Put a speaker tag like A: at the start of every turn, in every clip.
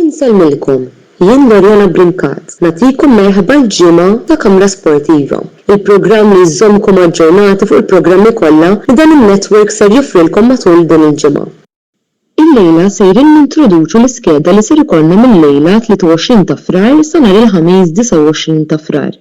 A: Insellmilkom, jien Loriana Brincat, nagħtikom merħba l-ġimgħa ta' Kamra Sportiva, il-programm li jżommkom aġġornati fuq il-programmi kollha li dan in-network ser joffrilkom matul din il-ġimgħa. Illejla sejrin nintroduċu l-iskeda li ser ikollna mil-lejla 23 ta' Frar sa nhar il-Ħamis 29 ta' Frar.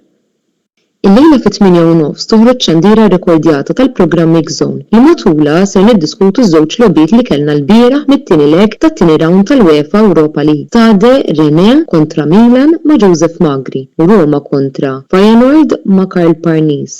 A: Illejla fit-tmienja u nofs toħroġ xandira rekordjata tal-programm Mix Zone li matulha ser niddiskutu ż-żewġ logħbiet li kellna lbieraħ mit-tieni leg tat-tieni rawnd tal-UEFA Europa League, Stade Rennais kontra Milan ma' Joseph Magri u Roma kontra Feyenoord ma' Karl Parnis.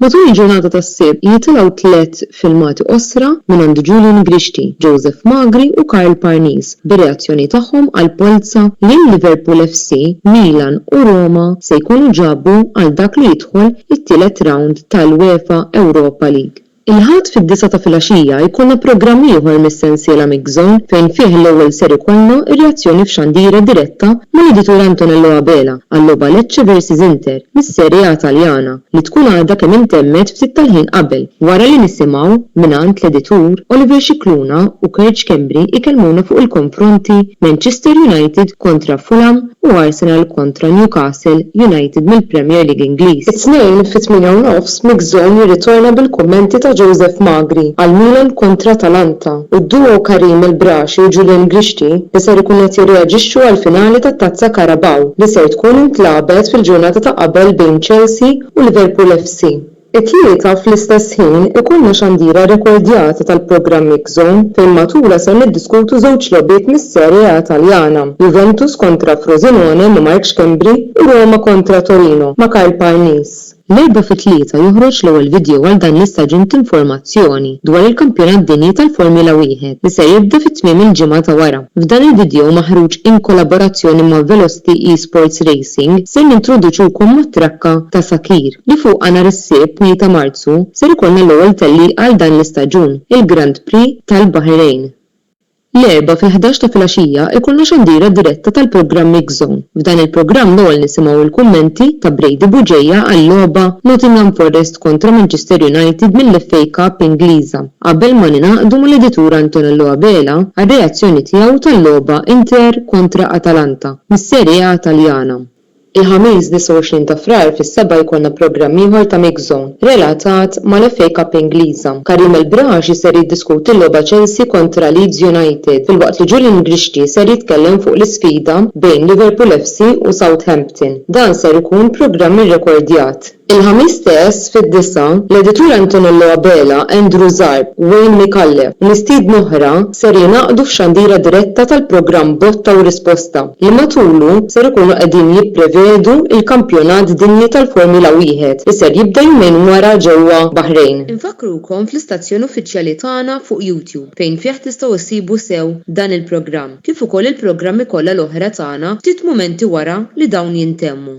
A: Matul il-ġurnata tas-Sibt jitilgħu tliet filmati qosra mingħand Julian Grixti, Joseph Magri u Karl Parnis bir-reazzjoni tagħhom għall-polza li l-Liverpool FC, Milan u Roma se jkunu ġabu għal dak li jidħol it-tielet rawnd tal-UEFA Europa League. Il-Ħadd fid-disgħa ta' filgħaxija jkollna programm ieħor mis-sensiela Mix Zone fejn fih l-ewwel ser ikollna r-reazzjoni f'xandira diretta mal-editur Antonello Abela għal-logħba Lecce versus Inter mis-Serie A Taljana li tkun għadha kemm intemmet ftit tal-ħin qabel wara li nisimgħu mingħand l-editur Oliver Scicluna u Kurt Schembri jkellmuna fuq il-konfronti Manchester United kontra Fulham u Arsenal kontra Newcastle United mill-Premier League Ingliż. It-Tnejn fit-tmienja u nofs Mixon jirritorna bil-kummenti ta' Joseph Magri għal Milan kontra Atalanta u d-duo Karim El Brashi u Julian Grixti li ser ikunu qed jirreaġixxu għall-finali tat-Tazza Carabao li ser tkun intlagħbet fil-ġurnata ta' qabel bejn Chelsea u Liverpool FC. It-tlieta fl-istess ħin ikollna xandira rekordjata tal-programm X-Zone fejn matulha ser niddiskutu żewġ logħbiet mis-Serie A Taljana, Juventus kontra Frosinone ma' Mark Schembri u Roma kontra Torino ma' Karl Parnis. L-Erbgħa fit-tlieta joħroġ l-ewwel video għal dan l-istaġun t'informazzjoni dwar il-Kampjonat Dinji tal-Formula Wieħed li ser jibda fi tmiem il-ġimgħa ta' wara. F'dan il-vidjow maħruġ in kollaborazzjoni ma' Velocity Esports Racing ser nintroduċukom mat-trakka ta' Sacyr li fuqha nhar is-Sibt tnejn ta' Marzu ser ikollna l-ewwel tellieqa għal dan l-istaġun, il-Grand Prix tal-Baħrejn. L-Erbgħa fil-ħdax ta' filgħaxija ikollna xandira diretta tal-programm Mixzone. F'dan il-programm l-ewwel nisimgħu il-kummenti ta' Brady Bugeja għal-logħba Nottingham Forest kontra Manchester United mill-FA Cup Ingliża. Qabel ma ningħaqdu mal-editur Antonello Abela għar-reazzjoni tiegħu tal-logħba Inter kontra Atalanta mis-Serie A Taljana. Il-Ħamis 29 ta' Frar fis-sebgħa jkollna programm ieħor ta' Mix Zone relatat mal-FA Cup Ingliża. Karim El Braaxi ser jiddiskuti l-logħba Chelsea kontra Leeds United filwaqt li Julian Grixti ser jitkellem fuq l-isfida bejn Liverpool FC u Southampton. Dan ser ikun programm irrekordjat. Il-Ħamis stess fid-disgħa, l-editur Antonello Abela, Andrew Zarb, Wayne Micallef u mistiedna oħra ser jingħaqdu f'xandira diretta tal-programm Botta u Risposta li matulu ser ikunu qegħdin jipprevedu l-Kampjonat Dinji tal-Formula Wieħed li ser jibda jumejn wara ġewwa Baħrejn. Infakkrukom fl-istazzjon uffiċjali tagħna fuq YouTube fejn fih tistgħu issibu sew dan il-programm kif ukoll il-programmi kollha l-oħra tagħna ftit mumenti wara li dawn jintemmu.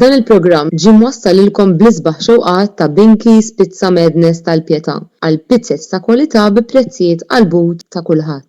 A: Dan il-programm ġie mwassal lilkom bl-isbaħ xewqat ta' Binky's Pizza Madness tal-Pietà għal pizzez ta' kwalità bi prezzijiet qalbut ta' kulħadd.